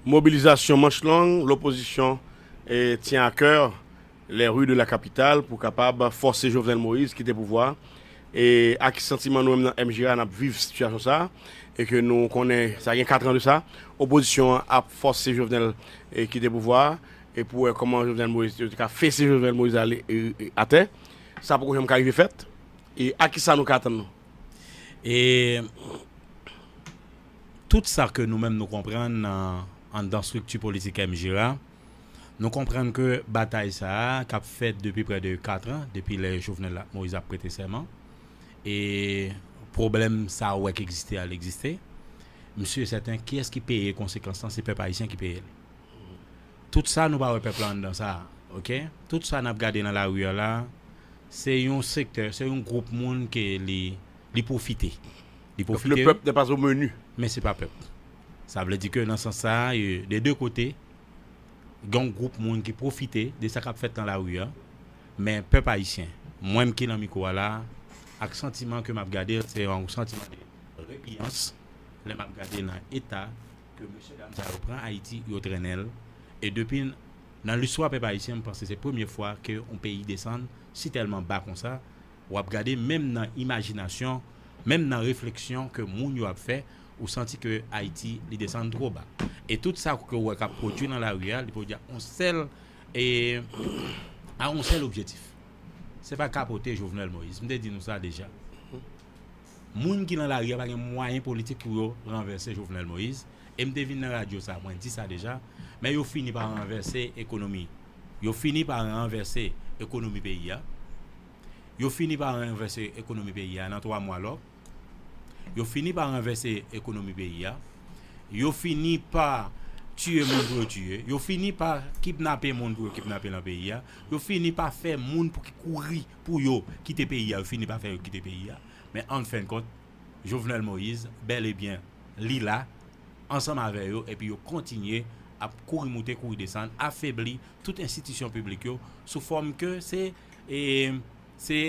Mobilizasyon manch long lopozisyon tyen a kè les rues de la capitale pou kapab fòse Jovenel Moïse kite pouvwa e a ki santiman nou menm nan MJRA nap viv sitiyasyon sa e ke nou konnen sa gen 4 ans de sa opozisyon an ap fòse Jovenel kite pouvwa a e pou wè kòman Jovenel Moïse yo te ka fese Jovenel Moïse ale atè sa poko janm ka rive fèt e a kisa nou ka atann nou e. Tout sa ke nou menm nou konprann nan anndan strikti politik MJRA, nou konprann ke batay sa a k ap fèt depi prè de 4 an, depi lè Jovenel ak Moïse ap prete sèman, e pwoblèm sa a ou wè k egziste a l egziste. M si e sèten kiyès ki peye konsekans lan, se pèp ayisyen ki peye l. Tout sa nou pa wè pèp la anndan sa a, ok? Tout sa n ap gade nan lari a la a, se yon sektè, se yon gwoup moun ke li pwofite. Li pwofite yo, men se pa pèp. Sa vle di ke nan sans sa a, de de kote, gen yon gwoup moun ki pwofite de sa k ap fèt nan lari a, men pèp ayisyen, mwen m ki nan mikwo a la a, ak santiman ke m ap gade l, se yon santiman de repiyans lè m ap gade nan eta ke mesye dam sa yo pran Ayiti, yo trennen l, e depi nan listwa pèp ayisyen, m panse se premye fwa ke yon peyi desann sitèlman ba konsa. W ap gade menm nan imajinasyon, menm nan refleksyon ke moun yo ap fè, ou santi ke Ayiti li desann two ba. E tout sa ke ou wè k ap pwodui nan lari a, li pwodui a on sèl, e, a on sèl objetif. Se pa kapote Jovenel Moïse. M te di nou sa deja. Moun ki lan lari a pa gen mwayen politik pou yo ranvèse Jovenel Moïse, e m te vin nan radyo sa mwen di sa deja, men yo fini pa ranvèse ekonomi, yo fini pa ranvèse ekonomi peyi a, yo fini pa ranvèse ekonomi peyi a nan 3 mwa lò, yo fini pa ranvèse ekonomi peyi a, yo fini pa tiye moun pou yo tiye, yo fini pa kipnape moun pou yo kipnape lan peyi a, yo fini pa fè moun pou ki kouri pou yo kite peyi a yo fini pa fè yo kite peyi a men anfenkont Jovenel Moïse bèl e byen li la ansanm avè yo epi yo kontinye ap kouri moute kouri desann afebli tout enstitisyon piblik yo sou fòm ke se e se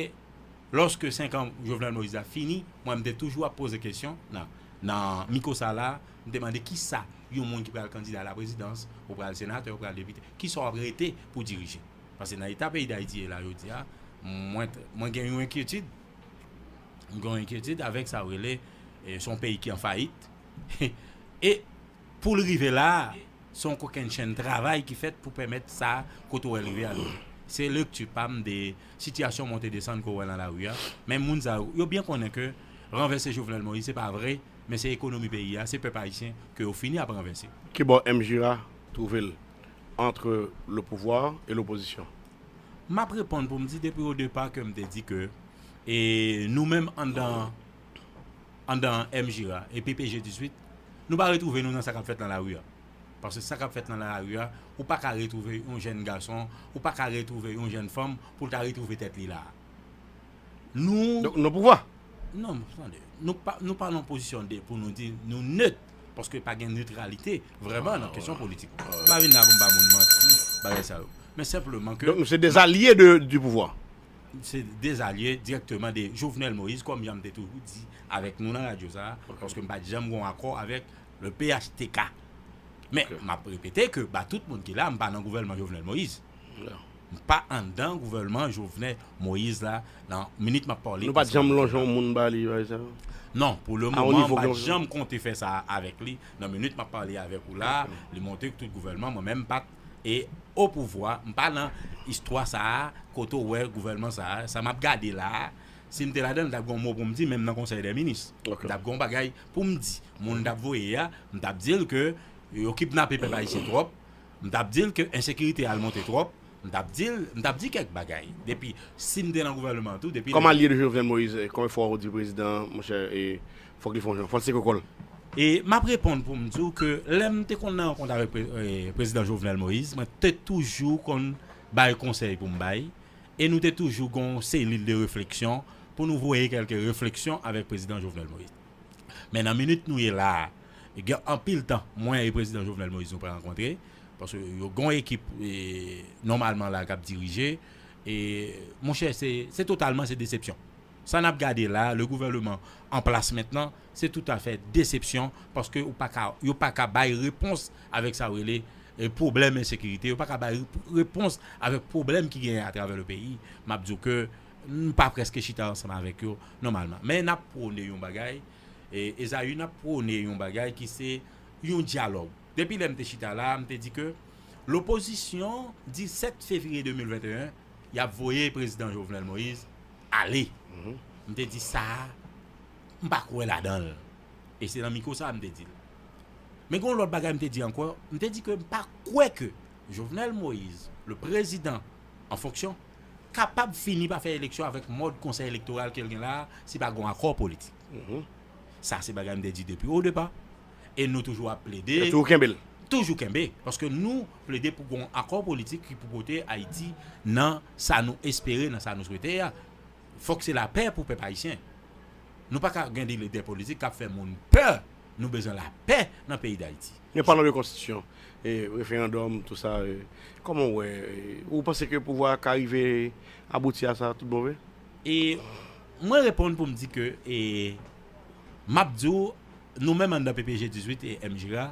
lòske 5 an Jovenel Moïse la fini mwen m te toujou ap poze kesyon nan nan miko sa la m te mande kisa yon moun ki pral kandida a la prezidans ou pral senatè ou pral depite kisa w ap rete pou dirije. Pase nan eta peyi Dayiti ye la jodi a, mwen gen yon enkyetid, mwen gen yon enkyetid avèk sa yo rele, se yon peyi ki an fayit, e pou l rive la a, se yon kokennchenn travay ki fèt pou pèmèt sa kote ou wè l rive a rive. Se lekti pa m de sitiyasyon monte desann ke w wè nan lari a, men moun sa yo, yo byen konnen ke ranvèse Jovenel Moïse se pa vre, men se ekonomi peyi a, se pèp ayisyen ke yo fini ap ranvèse. Kibò M. Girard twouve l? entre le pouvoir et l'opposition. Map reponn pou m di depi o depa ke m te di ke e nou menm anndan anndan MJR a e PPG 18 nou pa retwouve nou nan sa kap fèt nan lari a paske sa kap fèt nan lari a ou pa ka retwouve yon jenn gason ou pa ka retwouve yon jenn fanm pou l ta retwouve tèt li la a. Nou pouvwa. Non, tande. Nou pa nan pozisyon de pou nou di nou nèt. Paske pa gen netralite vreman nan kesyon politik. Pa vin la pou m ba moun manti, bagay sa yo. Men senpleman ke. Donk nou se de zalye di pouvwa. Se de zalye direkteman de Jovenel Moïse kòm jan m te toujou di avèk nou nan radyo sa. Paske m pa t janm gon akò avèk le phtk. Men m ap repete ke ba tout moun ki la m pa nan gouvèlman Jovenel Moïse. M pa andan gouvèlman Jovenel Moïse la nan minit map pale. Nou pat janm lonje yon moun ba li bay sa? Non, pou le moman m pat janm konte fè sa avèk li, nan minit map pale avèk ou la, li monte k tout gouvèlman mwen menm m pat e o pouvwa, m pa nan istwa sa a kote ou wè gouvèlman sa a, sa map gade la a, si m te ladan l tap gen yon mo pou m di menm nan konsèy dè minis, m tap gen yon bagay poum di, moun tap voye a, m tap di l ke yo kipnape pèp ayisyen twòp. M t ap di l ke ensekirite al monte twòp, m t ap di l, m t ap di kèk bagay. Depi, si m te nan gouvèneman an tou, depi lè. Kòm alye de Jovenel Moïse, e konbyen fwa ou di prezidan an, monchè, e fòk li fè yon jan, fò l seke kò l? E m ap reponn pou m di w ke lè m te konn nan rankont avèk prezidan Jovenel Moïse, mwen te toujou konn bay konsèy pou m bay, e nou te toujou gen yon selil de refleksyon pou nou voye kèlke refleksyon avèk prezidan Jovenel Moïse. Men nan minit nou ye la a, gen anpil tan mwen e Prezidan Jovenel Moïse nou pa rankontre, paske yo gen yon ekip nòmalman la k ap dirije. E monchè se totalman se desepsyon. Sa n ap gade la a, le gouvèleman an plas mentnan, se toutafè desepsyon paske ou pa ka yo pa ka bay repons avèk sa yo rele pwoblèm ensekirite, yo pa ka bay repons avèk pwoblèm ki genyen atravè le peyi. M ap di w ke. N pa prèske chita ansanm avèk yo nòmalman. Men n ap pwone yon bagay, Ezayi, n ap pwone yon bagay ki se yon dyalòg. Depi lè m te chita la a, m te di ke lopozisyon, 17 fevriye 2021, y ap voye Prezidan Jovenel Moïse ale. M te di sa a, m pa kwè ladan l. E se nan mikwo sa a m te di l. Men gen yon lòt bagay m te di ankò, m te di ke m pa kwè ke Jovenel Moïse, le Président en fonction, kapab fini pa fè eleksyon avèk mòd konsèy elektoral ke l gen la a si pa gen yon akò politik. Sa se bagay m te di depi o depa e nou toujou ap plede. Toujou kenbe l. Toujou kenbe. Paske nou plede pou gen yon akò politik ki pou pote Ayiti nan sa nou espere, nan sa nou swete a. Fòk se lapè pou pèp ayisyen. Nou pa ka gen de lidè politik k ap fè moun pè. Nou bezwen la pè nan peyi dayiti. Men palan de konstitisyon, referandòm tou sa, kòman ou wè, ou panse ke pouvwa a ka rive abouti a sa tout bon vre? E mwen reponn pou m di ke e m ap di w nou menm anndan PPG 18 e MJRA.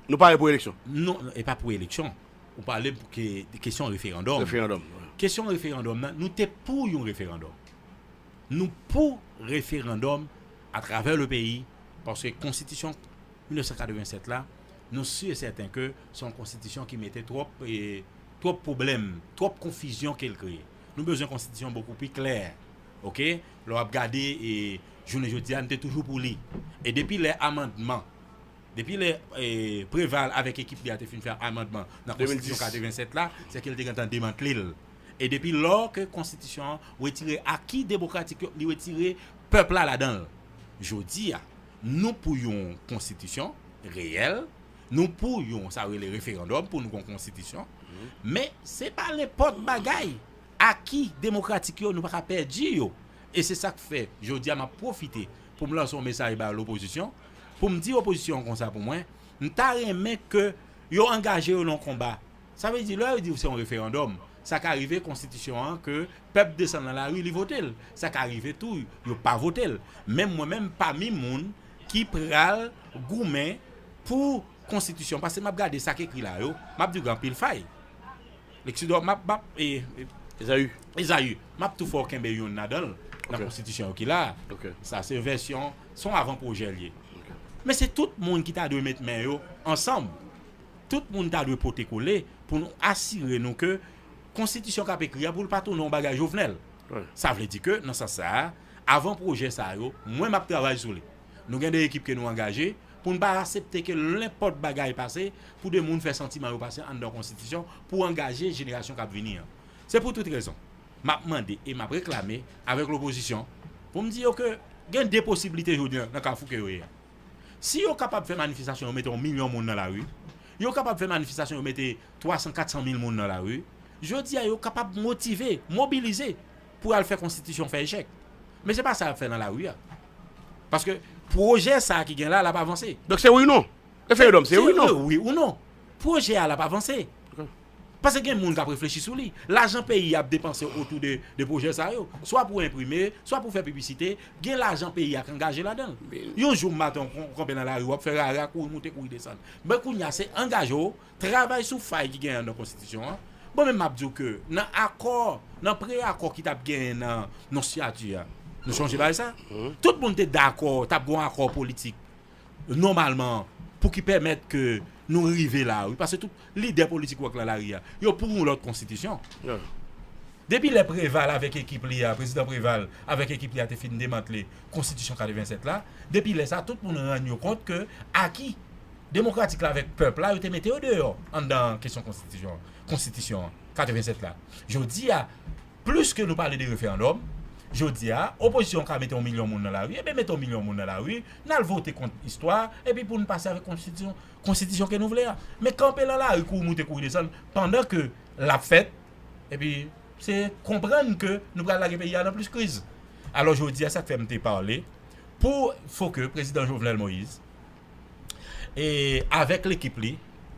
Nou pare pou eleksyon? Non, e pa pou eleksyon. Ou pale pou ke kesyon referandòm. Referandòm. Kesyon referandòm nan, nou te pou yon referandòm. Nou pou referandòm atravè le peyi paske konstitisyon 1987 la nou si e sèten ke se yon konstitisyon ki mete twòp twòp pwoblèm twòp konfizyon kel kreye nou bezwen konstitisyon bokou pi klè ok lè wap gade e jounen jodi a nou te toujou pou li e depi lè amandman depi lè preval avèk ekip li a te fin fè amandman nan konstitisyon 87 la se ke li te gentan demantlel e depi lò ke konstitisyon wetire aki demokratik yo li wetire Pèp la ladan l. Jodi a, nou pou yon konstitisyon reyèl, nou pou yon sa yo rele referandòm pou nou gen yon konstitisyon, men se pa nenpòt bagay, aki demokratik yo nou pa ka pèdi yo. E se sa k fè jodi a m ap pwofite pou m lanse yon mesaj ba lopozisyon, pou m di opozisyon an konsa pou mwen, m ta renmen ke yo angaje yo nan yon konba Sa vle di lè yo diw se yon referandòm, sa ka rive konstitisyon an ke pèp desann nan lari li votel, sa ka rive tou yo pa votel. Menm mwen menm pami moun ki pral goumen pou konstitisyon pase map gade sak ekri la yo, map diw gen anpil fay. Lexidor map map e. Ezaü. Ezaü, map tou fèw kenbe yonn ladanl nan konstitisyon yo ki la a. Sa se vèsyon, son avan pwojè li ye. Men se tout moun ki ta dwe met men yo ansanm. Tout moun ta dwe pote kole pou nou asire nou ke konstitisyon k ap ekri a pou l pa tounen yon bagay Jovenel. Sa vle di ke nan sans sa a, avan pwojè sa yo, mwen m ap travay sou li. Nou gen 2 ekip ke nou angaje pou n pa asepte ke lenpòt bagay pase pou 2 moun fè santiman yo pase anndan yon konstitisyon pou angaje jenerasyon k ap vini an. Se pou tout rezon, m ap mande e m ap reklame avèk lopozisyon pou m di yo ke gen 2 posiblite jodi an nan kafou ke yo ye a. Si yo kapab fè manifestasyon yo mete yon milyon moun nan lari, yo kapab fè manifestasyon yo mete 300, 400 mil moun nan lari, jodi a yo kapab motive, mobilize pou y al fè konstitisyon fè echèk. Men se pa sa y ap fè nan lari a. Paske pwojè sa a ki gen la a l ap avanse. Donk se wi ou non? Referedòm se wi ou non? Se wi ou non. Pwojè a l ap avanse. Pase gen moun k ap reflechi sou li. Lajan peyi a ap depanse otou de pwojè sa yo. Swa pou enprime, swa pou fè piblisite, gen lajan peyi a k angaje ladan l. Yon jou maten w kanpe nan lari w ap fè rara, kouri moute, kouri desann. Men kounye a se angaje w, travay sou fay ki genyen nan konstitisyon an. Mwen menm m ap di w ke nan akò, nan pre-akò ki t ap genyen nan non siyati a, nou sonje bagay sa? Tout moun te dakò t ap gen yon akò politik. nòmalman pou ki pèmèt ke nou rive la wi paske tout lidè politik wap nan lari a yo pou yon lòt konstitisyon depi lè preval avèk ekip li a prezidan preval avèk ekip li a te fin demantle konstitisyon 87 la depi lè sa tout moun rann yo kont ke aki demokratik la avèk pèp la yo te mete yo deyò anndan kesyon konstitisyon an 87 la jodi a. Plis ke nou pale de referandòm, jodi a, opozisyon an ka mete yon milyon moun nan lari, enben mete yon milyon moun nan lari, n al vote kont istwa a, epi pou nou pase avèk konstitisyon, konstitisyon ke nou vle a. Men kanpe lan lari kouri moute kouri desann, pandan ke l ap fèt, epi se konprann ke nou pral lage peyi a nan plis kriz. Alò jodi a sa k fè m te pale pou fo ke Prezidan Jovenel Moïse, e avèk lekip li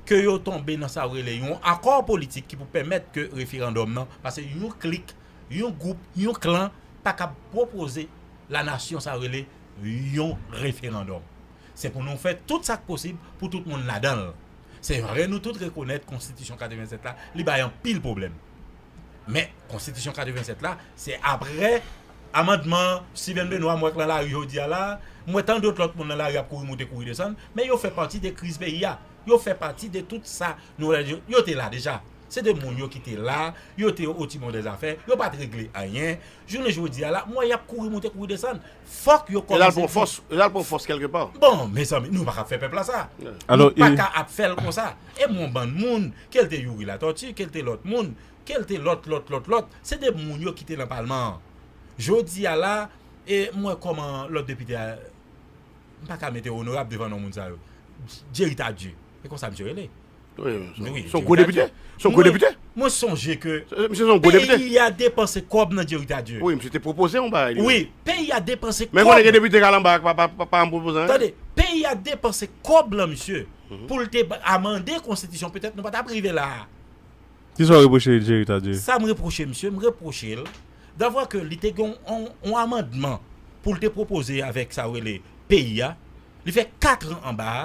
ke yo tonbe nan sa yo rele yon akò politik ki pou pèmèt ke referandòm nan pase yon klik, yon gwoup, yon klan pa kab pwopoze la nasyon sa yo rele yon referandòm. Se pou nou fè tout sa k posib pou tout moun ladan l. Se vre nou tout rekonèt konstitisyon 87 la li bay anpil pwoblèm. Men, konstitisyon 87 la, se apre amandman Steven Benoît m wè k nan lari jodi a la, m wè tan dot lòt moun nan lari ap kouri moute kouri desann, men yo fè pati de kriz peyi a. Yo fè pati de tout sa nou wè la yo. Yo te la deja. Se de moun yo ki te la, yo te otibon dè zafè, yo pa t regle anyen. Jounen jodi a la, m wè y ap kouri moute kouri desann. Fòk yo kòmanse di. Yo t al pran fòs kèlke pa. Bon, mezanmi, nou pa ka ap fè pèp la sa. Nou pa ka ap fè l konsa. E m wè yon bann moun, ke l te Youri Latòti, ke l te lòt moun, ke l te lòt, lòt, lòt, lòt, se de moun yo ki te nan palman an. Jodi a la, e m wè kòman lòt depite a, m pa ka mete onorab devan non moun sa yo. Jerry Tardieu, se konsa misye rele. Mwen sonje ke Peyi ya depanse kob nan Jerry Tardieu Peyi ya depanse kob lan misye Pou l te amande konstitisyon Petèt nou pa tap rive la a Kisa w repwoche Jerry Tardieu Sa m repwoche misye m repwoche l Davwa ke li te gen yon amandman Pou l te pwopoze avèk sa w rele Peyi ya Li fè 4 an anba a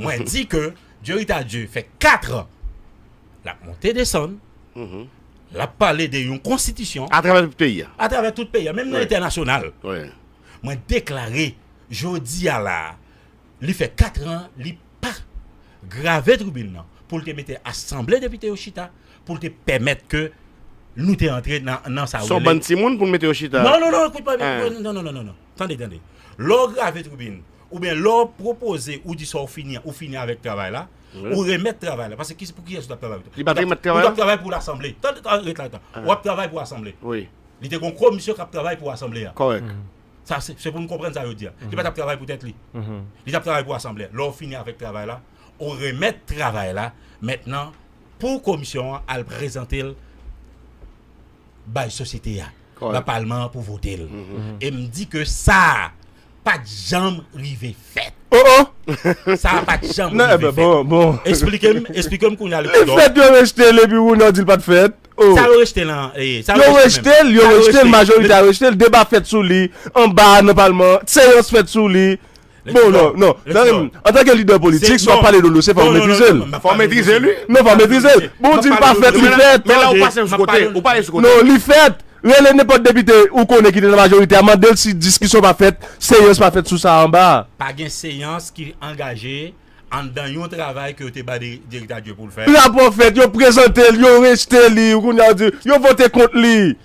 Mwen di ke Jerry Tardieu fè 4 ans lap monte desann, lap pale de yon konstitisyon. A travè tout peyi a. A travè tout peyi a, menm nan entènasyonal. Mwen deklare jodi a la a, li fè 4 ans li pa grave tribin nan pou l te mete asanble depite yo chita, pou l te pèmèt ke nou te antre nan sa yo rele. Son bann timoun pou l mete yo chita. Non non non, ekoute mwen byen, non non non. Tande, tande. Lè w grave tribin, oubyen lè w pwopoze ou di sa w fini an, ou fini avèk travay la, ou remèt travay la. Paske pou kiyès ou t ap travay? Ou t ap travay pou lasanble. Tande, tande, ret la. Ou ap travay pou asanble. Li te gen yon komisyon k ap travay pou asanble a. Kòrèk. Sa se, se pou nou konprann sa yo di a. Li pa t ap travay pou tèt li. Li t ap travay pou asanble a. Lè w fini avèk travay la, ou remèt travay la mentnan pou komisyon an al prezante l bay sosyete a. nan palman an pou vote l. E m di ke sa a pa t janm rive fèt. Oh oh! Sa a pa t janm rive fèt. Nan, bon, bon. Esplike m, esplike m kounya Lepidò. Li fèt, yo rejte l epi Rounaud di l pa t fèt. Oh! Sa yo rejte l an? Yo rejte l, yo rejte l, majorite a rejte l. Deba fèt sou li anba a nan palman an. Seyans fèt sou li. Bon non, non, zanmim, antanke lidè politik si wap pale don dosye fòk ou metrize l. Fòk ou metrize l wi. Non fòk ou metrize l. Bon ou di l pa fèt, li fèt. Men la ou pase l sou kote, ou pale l sou kote. Non li fèt. Rele nenpòt depite ou konnen ki te nan majorite a mande l si diskisyon pa fèt, seyans pa fèt sou sa anba a. Pa gen seyans ki angaje anndan yon travay ke yo te bay direktè adjwen pou l fè. Rapò fèt, yo prezante l, yo rejte li, kounya ou di yo vote kont li.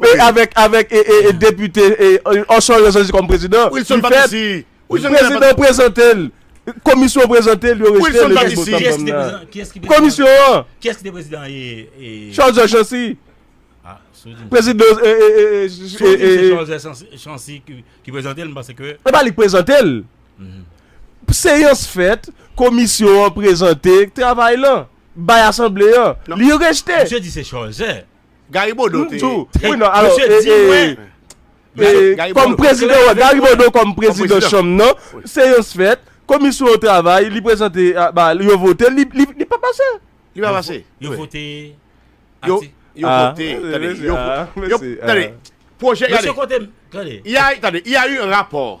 Avèk avèk e depite Orson yo chwazi kòm prezidan. Wilson Patrici. Prezidan prezante l. Komisyon prezante l yo rejte l. Komisyon an. Kiyès ki te prezidan e. Charles Georges Chancy. A si w di m. Prezidan e e e e. Si w di m se Charles Georges Chancy ki prezante l m panse ke. E pa li k prezante l. Seyans fèt, komisyon an prezante travay lan. Bay asanble an. Li rejte. Misye di se Charles. Gary Bodeau te. Wi nan alò e kòm prezidan wè Gary Bodeau kòm prezidan chanm nan seyans fèt komisyon yo travay li prezante ba yo vote li li pa pase. Li pa pase. Yo vote yo vote tande yo tande pwojè gade. Mesye kote m tande. Ya tande ya yon rapò.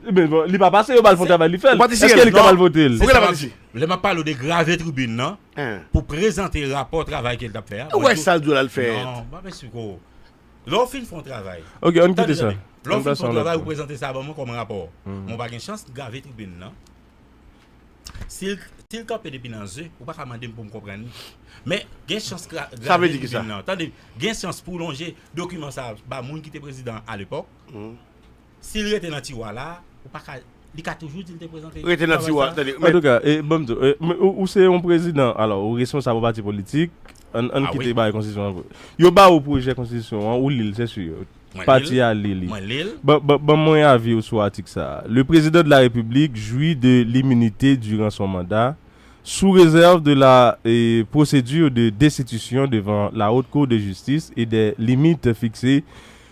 Li pa pase yo bal fon travay li fèl. Eske li kapab votel. Se sa map di. Lè map pale w de grave tribune nan. Pou prezante rapò travay ke li tap fè a. Ou wè sal di w lal fè. Non map esplike w. Lè w fin fon travay. Ok ann kite sa. Lè w fin fon travay ou prezante sa ban mwen kòm rapò. Mwen pa gen chans grave tribune nan. Sil kanpe depi nan ze ou paka mande m pou m konprann li. Men gen chans grave tribune nan. Sa vle di kisa. Tande gen chans pou w lonje dokiman sa ba moun ki te prezidan alepòk. Sil rete nan tiwa la ou paka li ka toujou dil te prezante Rete nan travay tiwa sa. tande men. Antouka e banm di w e men ou se yon prezidan alò ou responsab yon pati politik ann ann Ah wi. kite bagay konstitisyon an yo ba ou pwojè konstitisyon an ou li l sè sur Mwen li l pati a li li mwen li l. ban ban ban mwen avi w sou atik sa a le président de la République jouit de l'immunité durant son mandat sous réserve de la e procédure de destitution devant la haute cour de justice et des limites fixées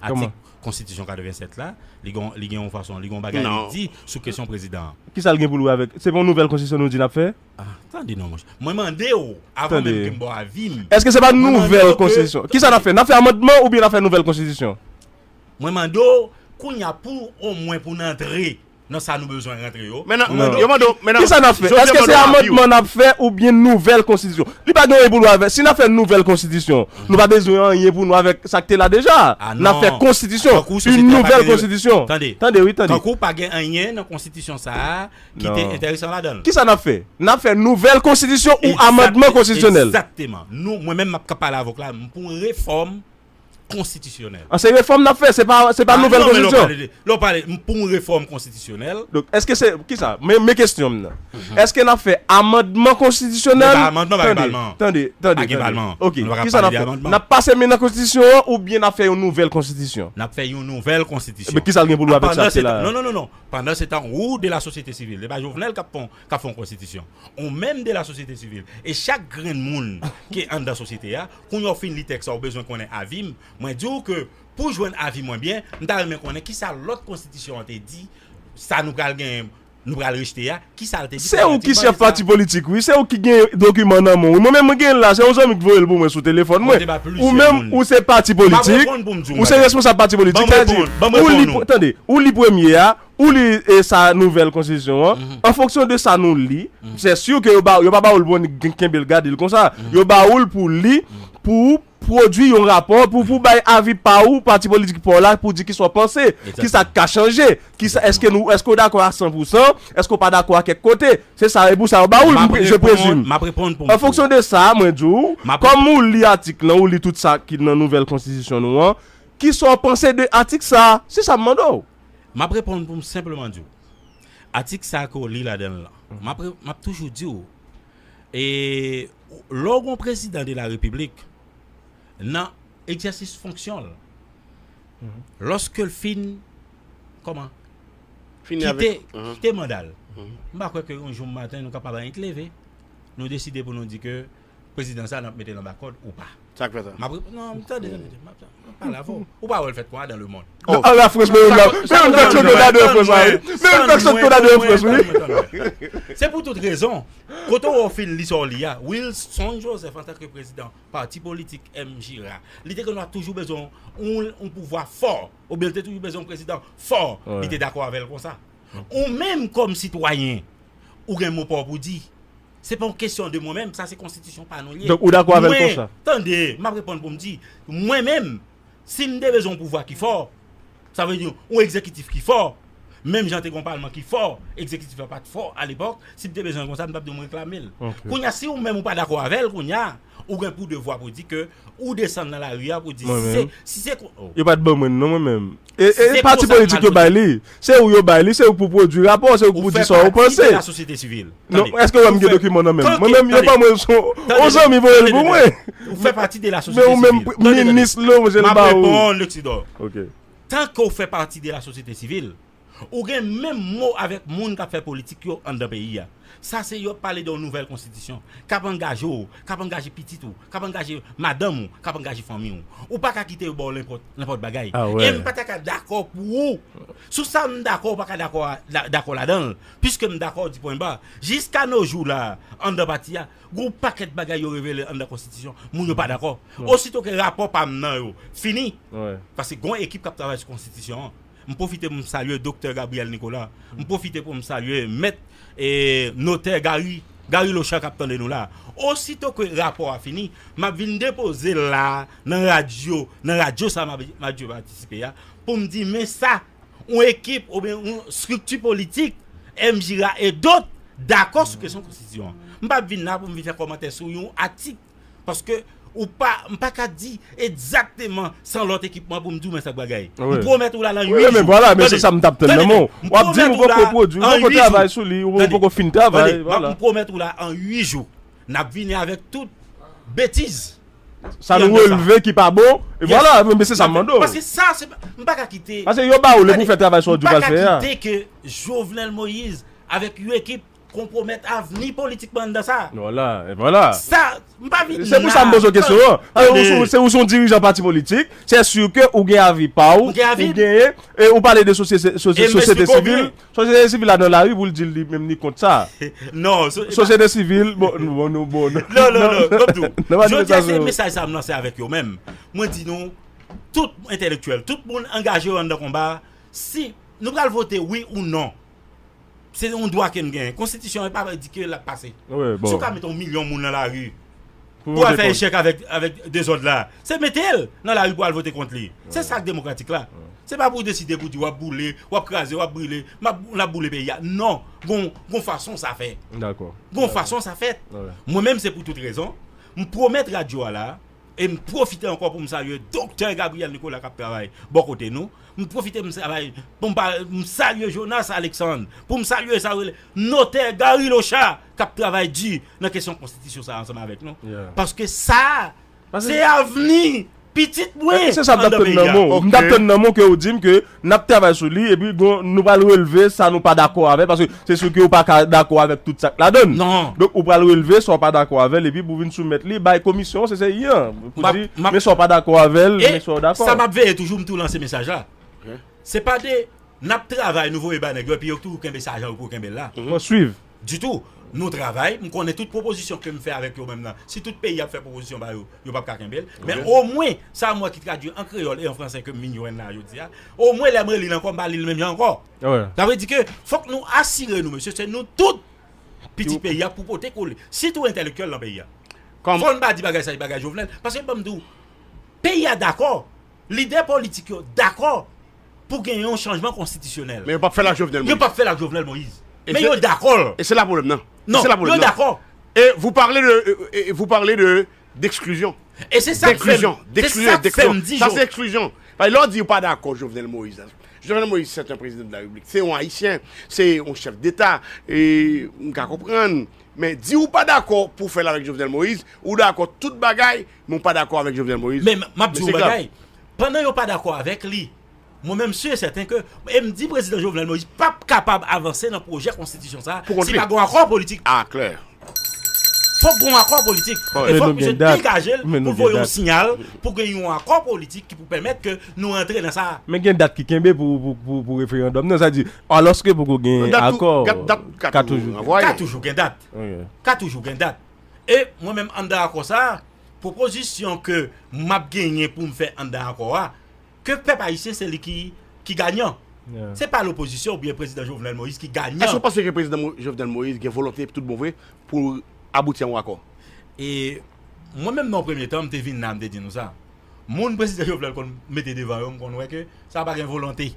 Atik konstitisyon 87 la, li gen li gen yon fason, li gen yon bagay li di sou kesyon prezidan an. Kisa l gen pou l wè avèk, se pa yon nouvèl konstitisyon nou di n ap fè? Ah, tande non monchè. Mwen mande w, avan menm ke m ba w avi m, Èske se pa mwen mande nouvèl w ke, konstitisyon? Kisa n ap tande. fè? N ap fè amandman oubyen n ap fè nouvèl konstitisyon? Mwen mande w, kounye a pou omwen pou n antre. Nan sa nou bezwen rantre yo. Men nan, yo mande w, men nan. Kisa nap fè? Eske se amandman nap fè ou byen nouvèl konstitisyon? Li pa gen anyen pou l wè avè, si nap fè nouvèl konstitisyon, nou pa bezwen anyen pou nou wè avèk sa k te la deja a. A non. Nap fè konstitisyon, yn nouvèl konstitisyon. Tande. Tande wi, tande. Tankou pa gen anyen nan konstitisyon sa a ki te enteresan ladan l. Kisa nap fè? Nap fè nouvèl konstitisyon ou amandman konstitisyonèl. Egzakteman. Nou, mwen menm map kap pale avè w la, m pou refòm konstitisyonèl. An se refòm n ap fè, se pa se pa nouvèl konstitisyon. Lè w pale pou yon refòm konstitisyonèl. Donk èske se ki sa? Men kesyon m nan. Èske n ap fè amandman konstitisyonèl? Men pa amandman pa gen palman an. Tande, tande. Pa gen palman an. Ok. Ki sa n ap fè? N ap pase men nan konstitisyon an oubyen n ap fè yon nouvèl konstitisyon? N ap fè yon nouvèl konstitisyon. Ki sa l gen pou l wè avèk sa ki la a? Non, non, non, non. Pandan se tan ou de la sosyete sivil. Se pa Jovenel k ap fon k ap fè yon konstitisyon. Ou menm de lasosyete sivil e chak grenn moun ki anndan sosyete a, kounya w fin li tèks la ou bezwen konnen avi m, mwen di w ke pou jwenn avi mwen byen, m ta renmen konnen kisa lòt konstitisyon an te di, sa nou pral genyen, nou pral rejte a, kisa l te di Se ou ki chèf pati politik wi, se ou ki gen dokiman nan men w wi. Mwen menm mwen gen l la, se yon zanmi ki voye l pou mwen sou telefòn mwen. Ou menm ou se pati politik, ou se responsab pati politik, sa vle di ou li, tande, ou li premye a, Ou li e sa nouvèl konstitisyon an, an fonksyon de sa nou li, sè sur ke yo ba ou, yo pa ba ou l pou annik kenbe l gade l konsa, yo ba ou l pou w li, pou ou pwodui yon rapò, pou pou bay avi pa ou, pati politik pa w la, pou di kisa w panse, kisa k ka chanje, kisa, èske nou, èske w dakò a san pou san, èske w pa dakò a kèk kote, se sa, e pou sa yo ba ou l, je presume. M ap reponn pou m fou. An fonksyon de sa, mwen di w, kòm ou li atik lan, ou li tout sa ki nan nouvèl konstitisyon nou an, kisa w panse de atik sa? Se sa m mande w. M ap reponn pou m senpleman di w, atik sa a ke w li ladan l lan, m ap m ap toujou di w, lè w gen yon prezidan de la repiblik nan egzèsis fonksyon l, lòske l fin kòman, kite kite manda l, m pa kwè ke yon jou maten nou ka pa ba yon leve, nou deside pou nou di ke. Prezidan sa nap metel anba kòd ou pa. Sak fè sa? Map reponn non tande tande tande map pale avè w. Ou pa wè l fèt konnya dan le mond. Oh. An la frans men yon nan men yon pèsòn konn ade an frans la wi. Men yon pèsòn konn ade an frans wi. Tann mwen tann mwen. Se pou tout rezon. Kote w wè w fin li sa w li a. Wilson Joseph antanke prezidan pati politik MJRA li te konn ap toujou bezwen yon pouvwa fò oubyen li te toujou bezwen yon prezidan fò li te dakò avè l konsa. Ou menm kòm sitwayen ou gen mo pa w pou di. Se pa yon kesyon de mwen menm, sa se konstitisyon pa nou li ye. Donk ou dakò avèl konsa? Mwen, tande, m ap reponn pou m di, mwen menm, si m te bezwen yon pouvwa ki fò, sa vle di yon egzekitif ki fò, menm jan te gen yon palman ki fò, egzekitif la pa t fò alepòk, si m te bezwen l konsa, m t ap di w m reklame l. Kounye a, si ou menm ou pa dakò avè l kounye a, Ou gen pou devwa pou di ke ou desann nan lari a pou di si se, si se kon. Yo pat ban mwen non mwen menm. E e pati politik yo bay li. Se ou yo bay li, se ou pou pwodwi rapò, se ou pou di sa ou panse. Ou fè pati de la sosyete sivil. Non, eske ou wè m gen dokiman nan menm? Mwen menm yo ban mwen l son, on zanmi voye l pou mwen. Ou fè pati de la sosyete sivil. Men ou menm minis l ou, je l ba ou. Map reponn Lexidor. Ok. Tanke ou fè pati de la sosyete sivil, Ou gen menm mo avèk moun k ap fè politik yo anndan peyi a. Sa se yo ap pale de yon nouvèl konstitisyon, k ap angaje w, k ap angaje pitit ou, k ap angaje madanm ou, k ap angaje fanmi w. Ou pa ka kite yo ba w lenpòt bagay. E m pa ta ka dakò pou ou. Sou sa m dakò ou pa ka dakò ladan l, piske m dakò w di pwen ba. Jiska no jou la a, anndan pati a, gen yon pakèt bagay yo revele anndan konstitisyon, moun yo pa dakò. Osito ke rapò pa m nan yo fini, paske gen yon ekip k ap travay sou konstitisyon an, M pwofite pou m salye Doktè Gabriel Nicolas. M pwofite pou m salye Mèt e Notè Garry Garry Lochan k ap tande nou la. Osito ke rapò a fini, m ap vin depoze l la a nan radyo nan radyo sa a m ap patisipe a pou m di men sa yon ekip oubyen yon estrikti politik M. Gira e dot dakò sou kesyon konstitisyon an. M pa vin la pou m vin fè kòmantè sou yon atik Paske ou pa, m pa ka di egzakteman san lòt ekipman pou m di w men sa k bagay. M pwomèt ou la lan 8 jou. Wi men vwala, men se sa m t ap tann nan men w. M pwomèt ou la an 8 jou. Tande, m pwomèt ou la an 8 jou. N ap vini avèk tout betiz. Sa nou relve ki pa bon. E vwala, men se sa m mande w. Paske sa, m pa ka kite. Paske yo ba ou li pou w fè travay sa w di w pral fè a. M pa ka kite ke Jovenel Moïse avèk yon ekip. Konpwomèt avni politik mandan sa a. Vwala, e vwala! Sa, m pa vin la. Se pou sa m poze w kesyon an. Tande! Se ou se yon dirijan pati politik, sè sur ke ou gen avi pa ou. M gen avi m. Ou genyen, e ou pale de sosyete sivil. E m esplike w byen. Sosyete sivil la nan lari pou l di li menm li kont sa a. Non. Sosyete sivil, bon, bon nou, bon nou. Non, non, non, m ap di w. Jodi a se mesaj sa a m lanse avèk yo menm. Mwen di nou, tout entèlektyèl, tout moun angaje yo anndan konba a, si nou pral vote wi ou non. Se yon dwa ke n genyen. Konstitisyon an pa di ke l ap pase. Si w ka mete yon milyon moun nan lari pou al fè echèk avèk dezòd la, se mete l nan lari pou al vote kont li. Se sa k demokratik la. Se pa pou w deside pou w di w ap boule, w ap kraze, w ap brile, m ap boule peyi a. Non! Gon yon fason sa fèt. Gon yon fason sa fèt. Mwen menm se pou tout rezon, m pwomèt radyo a la a, E m pwofite ankò pou m salye Doktè Gabriel Nicolas k ap travay bò kote nou. M pwofite m salye pou m pa m salye Jonas Alexandre, pou m salye sa yo rele Notè Garry Lochard k ap travay di nan kesyon konstitisyon sa a ansanm avèk nou. Paske sa a se avni pitit mwen anndan peyi a. Èske se sa m t ap tann nan men w? M t ap tann nan men w ke ou di m ke. Nap travay sou li epi gon nou pral relve sa nou pa dakò avè paske se si ke ou pa ka dakò avèk tout sak ladann. Donk ou pral relve sa ou pa dakò avèl epi pou vin soumèt li bay komisyon CCI an pou di men sa ou pa dakò avèl men sa ou dakò. E sa map veye toujou m tou lanse mesaj la se pa de nap travay nou voye bay nèg yo epi yo toujou kenbe sa jan yo pou yo kenbel la. Mwen swiv. Ditou. Nou travay, m konnen tout pwopozisyon ke m fè avèk yo menm nan, si tout peyi ap fè pwopozisyon pa yo, yo pap ka kenbe l. Men omwen, sa m wè ki tradui an kreyòl e an franse ke m vin jwenn la jodi a, omwen lè m reli l ankò m pa li l menm jan ankò. Sa vle di ke fòk nou asire nou mesye se nou tout, pitit peyi a pou pote kole, sitou entèlektyèl nan peyi a. Fò n pa di bagay sa se bagay Jovenel, paske ban m di w, peyi a dakò, lidè politik yo dakò, pou gen yon chanjman konstitisyonèl. Men yo pap fèl ak Jovenel Moïse. Yo pap fèl ak Jovenel Moïse. Men yo dakò l. E se la pwoblèm nan. Non, yo dakò. E vou pale de, vou pale de d'exclusion. E se sa k fè m, se sa k fè m di yo. Sa se exclusion. Paske lè w di ou pa dakò Jovenel Moïse la. Jovenel Moïse se te yon prezidan de la repiblik. Se yon ayisyen. Se yon chèf deta. E m ka konprann. Men di ou pa dakò pou fèl avèk Jovenel Moïse. Ou dakò tout bagay men ou pa dakò avèk Jovenel Moïse. Men m ap di w yon bagay. Pandan yo pa dakò avèk li, mwen menm si e sèten ke e m di Prezidan Jovenel Moïse p ap kapab avanse nan pwojè konstitisyon sa a si pa gon akò politik. Fòk gon akò politik e fòk misye degaje l pou l voye yon siyal pou gen yon akò politik ki pou pèmèt ke nou rantre nan sa a. Men gen dat ki kenbe pou referandòm nan, sa di alòske poko gen akò. Dat ka toujou genyen. Ka toujou gen dat. Ka toujou gen dat. E mwen menm anndan akò sa a. Pwopozisyon ke m ap genyen pou m fè anndan akò a, ke pèp ayisyen se li ki ganyan. Se pa lopozisyon oubyen Prezidan Jovenel Moïse ki ganyan. Èske w panse ke Prezidan Jovenel Moïse gen volonte tout bon vre pou l abouti a yon akò? E mwen menm nan yon premye tan, m te vin la m te di nou sa. Moun Prezidan Jovenel konn mete devan yo m konn wè ke sa pa gen volonte.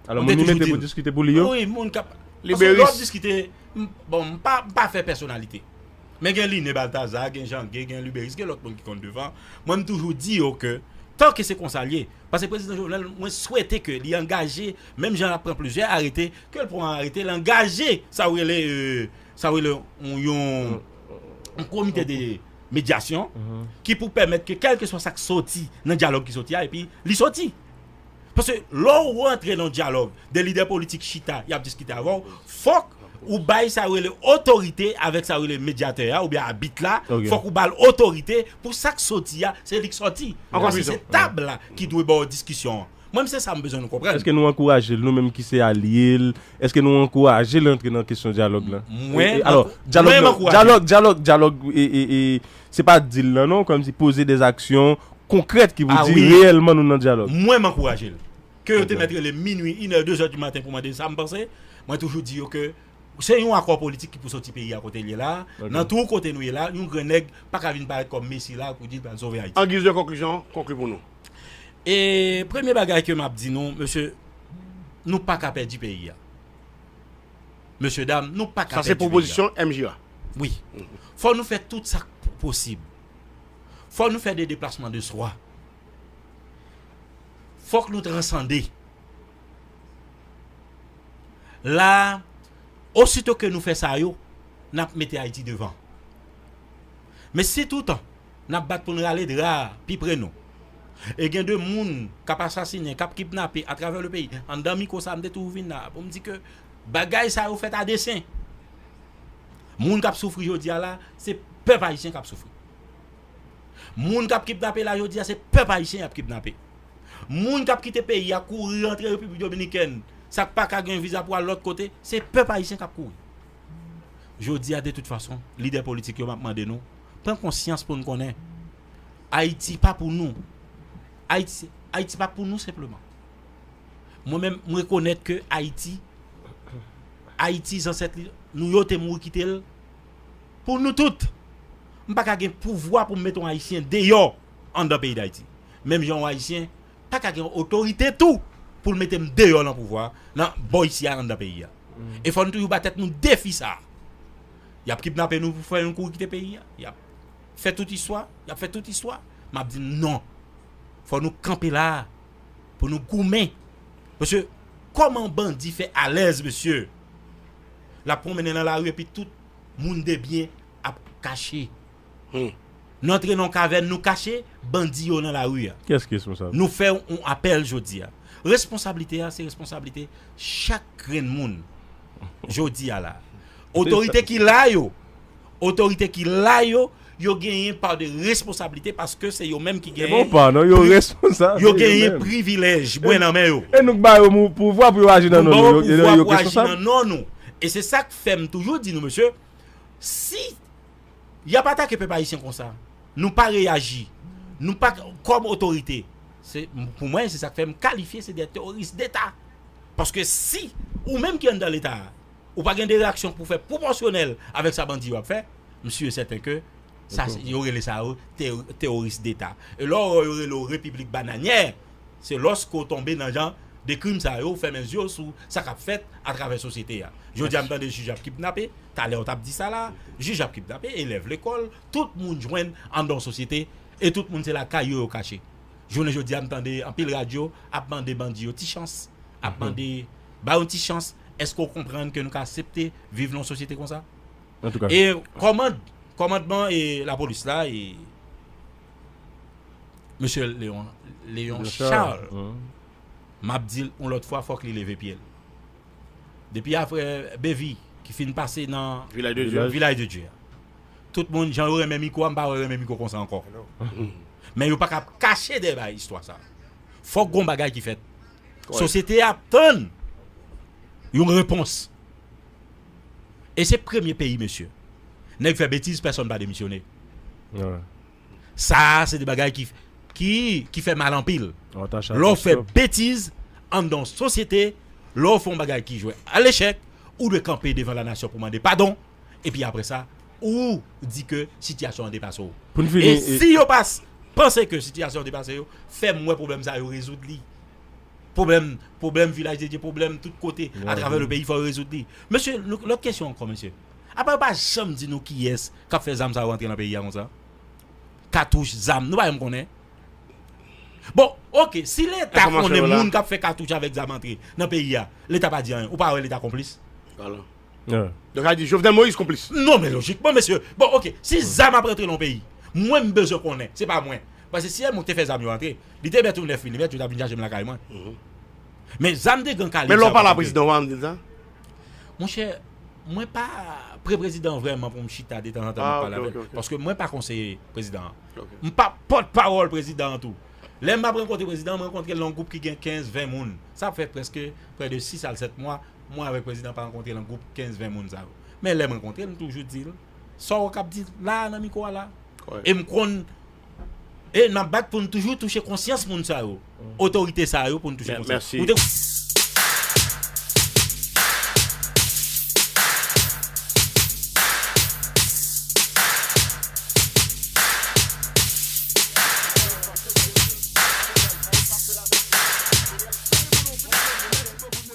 Alò moun li mete pou diskite pou li yo? Wi, moun k ap. Liberis. Paske lè w ap diskite, bon m pa fè pèsonalite. Men gen Line Balthazar, gen Jean Gué, gen Luberice, gen lòt moun ki konn devan, mwen m toujou di yo ke tan ke se konsa l ye, pase Prezidan Jovenel mwen swete ke li angaje menm jan l ap pran plizyè arete, ke l pran arete l angaje sa ou rele sa ou rele yon yon komite de medyasyon ki pou pèmèt ke kèlkeswa sa k soti nan dyalòg ki soti a epi li soti. Paske lè ou rantre nan dyalòg, 2 lidè politik chita y ap diskite avè w, fòk ou bay sa yo rele otorite avèk sa yo rele medyatè a oubyen abit la, fòk ou ba l otorite pou sa k soti a se li k soti. Paske se tab la ki dwe ba w diskisyon an. Mwen menm se sa m bezwen nou konprann. Eske nou ankouraje l nou menm ki se alye l? Eske nou ankouraje l antre nan kesyon dyalòg la? Mwen m ankouraje l. Dyalòg, dyalòg, dyalòg e. Se pa di l nan non, kòmsi poze des actions concrètes ki pou di reyèlman nou nan dyalòg. Mwen m ankouraje l. Ke yo te mèt rele m minui, inè, dezè di maten pou mande l sa m panse, mwen toujou di yo ke se yon akò politik ki pou soti peyi a kote l ye la a, nan twou kote nou ye la a, yon gren nèg pa ka vin parèt kòm mesi la a pou di l pral sove Ayiti. An giz de konklisyon, konkli pou nou. E premye bagay ke m ap di nou, mesye, nou pa ka pèdi peyi a. Mesye dam nou paka pèdi peyi a. Sa se pwopozisyon MJ la. Wi. Fò nou fè tout sa k posib. Fò nou fè de deplasman de swa. Fòk nou transande. La a, osito ke nou fè sa yo, n ap mete Ayiti devan. Men si toutan. N ap bat pou n rale dra a pi pre nou. E gen de moun k ap asasinen, k ap kidnape atravè le peyi. Anndan mikwo sa a, m te tou vin la a pou m di ke bagay sa yo fèt a desen. Moun k ap soufri jodi a la, se pèp ayisyen k ap soufri. Moun k ap kidnape la jodi a, se pèp ayisyen y ap kidnape. Moun k ap kite peyi a kouri rantre Repiblik Dominikèn, sa k pa ka gen viza pou al lòt kote, se pèp ayisyen k ap kouri. Jodi a, de tout fason, lidè politik yo, m ap mande nou, Pran konsyans pou n konnen Ayiti pa pou nou. Ayiti pa pou nou senpleman. Mwen menm m rekonèt ke Ayiti, Ayiti zansèt li, nou yo te mouri kite l pou nou tout. M pa ka gen pouvwa pou m mete yon Ayisyen deyò anndan peyi Dayiti. Menm jan yon Ayisyen pa ka gen otorite tou pou l mete m deyò nan pouvwa, nan bò isi a anndan peyi a. E fò n toujou ba tèt nou defi sa a. Yap kidnape nou pou fè yon kouri kite peyi a. Yap fè tout istwa. Yap fè tout istwa. Map di nou non. Fò nou kanpe la a. Pou nou goumen. Paske kòman bandi fè alèz mesye. Lap pwonmennen nan lari epi tout moun debyen ap kache. Humm. Nou antre nan yon kavèn nou kache bandi yo nan lari a. Kiyès ki responsab? Nou fè yon apèl jodi a. Responsablite a se responsablite chak grenn moun jodi a la a. Otorite ki la yo, otorite ki la yo, yo gen yon pa de responsablite paske se yo menm ki gen. Se pa yon pa non, yo responsab. Yo gen yon privilèj mwen nan men yo. E nou k ba yo pouvwa pou yo aji nan non nou. Nou ba yo pouvwa pou yo aji nan non nou. E se sa k fè m toujou di nou mesye si. Yap atake pèp ayisyen konsa nou pa reyaji nou pa kòm otorite se pou mwen se sak fè m kalifye se de teworis deta paske si ou menm ki anndan leta a ou pa gen de reyaksyon pou fè pwopòsyonèl avèk sa bandi yo ap fè m si e sèten ke sa yo rele sa yo teworis deta e lò yo rele w repiblik bananyè. Se lòske w tonbe nan jan de krim sa yo ou fèmen zye w sou sa k ap fèt atravè sosyete a. Jodi a m tande jij ap kidnape, talè w t ap di sa la a, jij ap kidnape, elèv lekòl, tout moun jwenn anndan yon sosyete e tout moun se lakay yo yo kache. Jounen jodi a m tande anpil radyo ap mande bandi yo ti chans, ap mande ba yon ti chans, èske w konprann ke nou ka asepte viv nan yon sosyete konsa? E kòmandman lapolis la e. Mesye Leon, Leon Charles, m ap di l yon lòt fwa fòk li leve pye l. Depi apre Bevi ki fin pase nan Vilaj de Dye a, tout moun jan yo renmen mikwo a, m pa wè yo renmen mikwo konsa ankò. Men yo pa ka ap kache dèyè istwa sa. Fòk gon bagay ki fèt. Sosyete a ap tann yon repons. E se premye peyi mesye. Nèg fè betiz pèsòn pa demisyone. Sa a se de bagay ki ki fè mal anpil. Lè w fè betiz anndan yon sosyete, lè w fè yon bagay ki jwe a lechèk, ou dwe kanpe devan lanasyon pou mande padon epi aprè sa ou di ke sitiyasyon an depase w. E si yo pa panse ke sitiyasyon an depase yo, fè m wè pwoblèm sa a yo rezoud li. Pwoblèm, pwoblèm Vilaj de Dye, pwoblèm tout kote atravè le peyi fò yo rezoud li. Mesye, lòt kesyon ankò mesye. Apa yo pa janm di nou kiyès k ap fè zam sa yo rantre nan peyi a konsa? Katouch, zam, nou pa janm konnen? Bon, oke, si Leta konnen moun k ap fè katouch avèk zam antre nan peyi a, Leta pa di anyen, ou pa wè Leta konplis? Alò. Donk sa vle di Jovenel Moïse konplis? Non men lojikman mesye, bon ok si zam ap rantre nan yon peyi mwen m bezwen konnen, se pa mwen pase si yon moun te fè zam yo rantre li te mèt yon 9 milimèt yo ta vin chaje m lakay mwen men zam de gran kalib sa yo pa rantre. Men lè w pale a prezidan w pa janm di l sa? Monchè mwen pa pre prezidan vrèman pou m chita detanzantan pou m pale avè l paske mwen pa konseye prezidan an m pa pòt pawòl prezidan an tou lè m ap rankontre prezidan an m rankontre l nan yon gwoup ki gen 15, 20 moun sa ap fè prèske prè de 6 al 7 mwa Mwen avèk prezidan pa rankontre lan gwoup 15 20 moun sa yo. Men lèm rankontre l m toujou di l sa w kap di la nan mikwo a la. E m konn e nap bat pou n toujou touche konsyans moun sa yo. Otorite sa yo pou n touche konsyans yo.